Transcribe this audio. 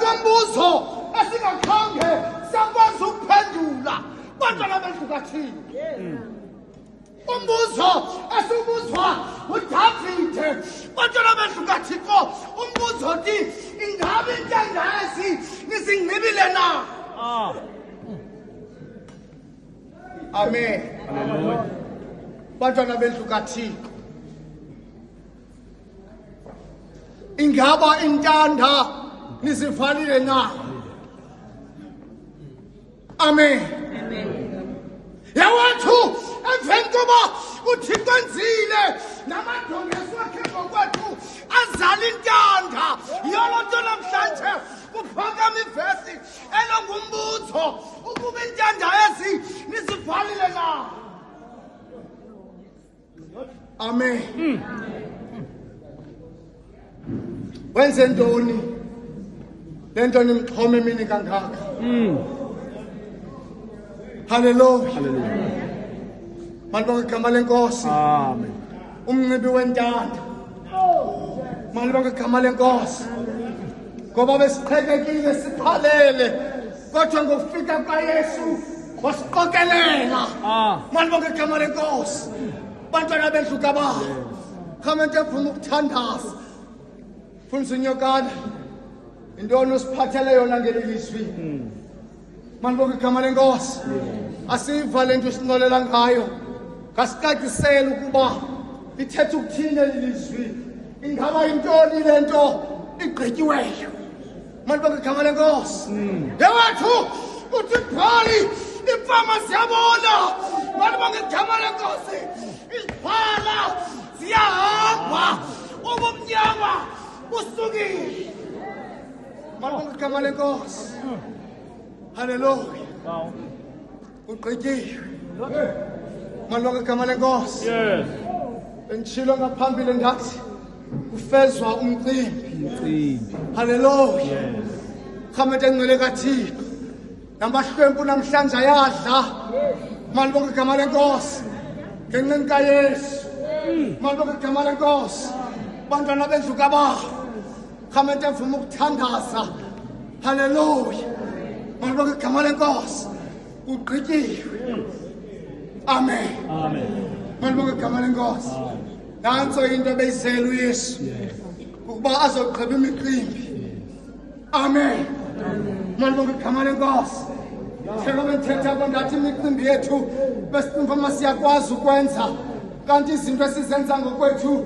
Umbuzo esingakhange sakwazi ukuphendula bantwana bethu kathini. Umbuzo esibuzwa uDavide bantwana bethu kaThixo umbuzo uthi ingabe intandazi nizingcibile na? Ah. Amen. Hallelujah. Bantwana bethu kaThixo ingaba intanda nisifanile na amen yawethu emveni koba uthixo enzile namadongeso akhe ngokwethu azala intanda yolo nto namhlanje kuphakama ivesi elongumbuzo ukuba intanda ezi nisivalile na Amen. Mm. Wenze ntoni? Lento nimxhome mini kangaka. Mm. Hallelujah. Hallelujah. Malibonga igama lenkosi. Amen. Umnxibi wentanda. Malibonga igama lenkosi. Ngoba besiqhekekile siphalele. Kodwa ngokufika kwaYesu wasiqokelela ah. malibonke igama lenkosi bantwana bendlu kabayo khamente funa ukuthandaza fundisa unyokana yintoni usiphathele yona ngeli lizwi hmm. malibonke igama lenkosi asiva le nto usincolela ngayo ngasicacisele ukuba lithetha ukuthini eli lizwi ingaba yintoni le nto igqityiweyo Man baka igama lenkosi yewethu uthi phali imfama siyabona man baka igama lenkosi iziphala ziyahamba ubumnyama busukile man baka igama lenkosi haleluya kugqityiwe malonke igama lenkosi yes benditshilo ngaphambili ndathi kufezwa umcimbi umcimbi haleluya yes khamete engcwele kathixo namahlwempu namhlanje ayadla malibonke igama lenkosi ngenqini kayesu malibonke igama lenkosi bantwana bendlu kabawo Khama ndiyavuma ukuthandaza. Hallelujah. Mawuba igama lenkosi. Ugqityiwe. Amen. Amen. Mawuba igama lenkosi. Nanso into ebeyizela uYesu. Ukuba azogqiba imicimbi. Amen. Amen. Mawuba igama lenkosi. Thela benthetha kwandathi imicimbi yethu besimfama siyakwazi ukwenza kanti izinto esizenza ngokwethu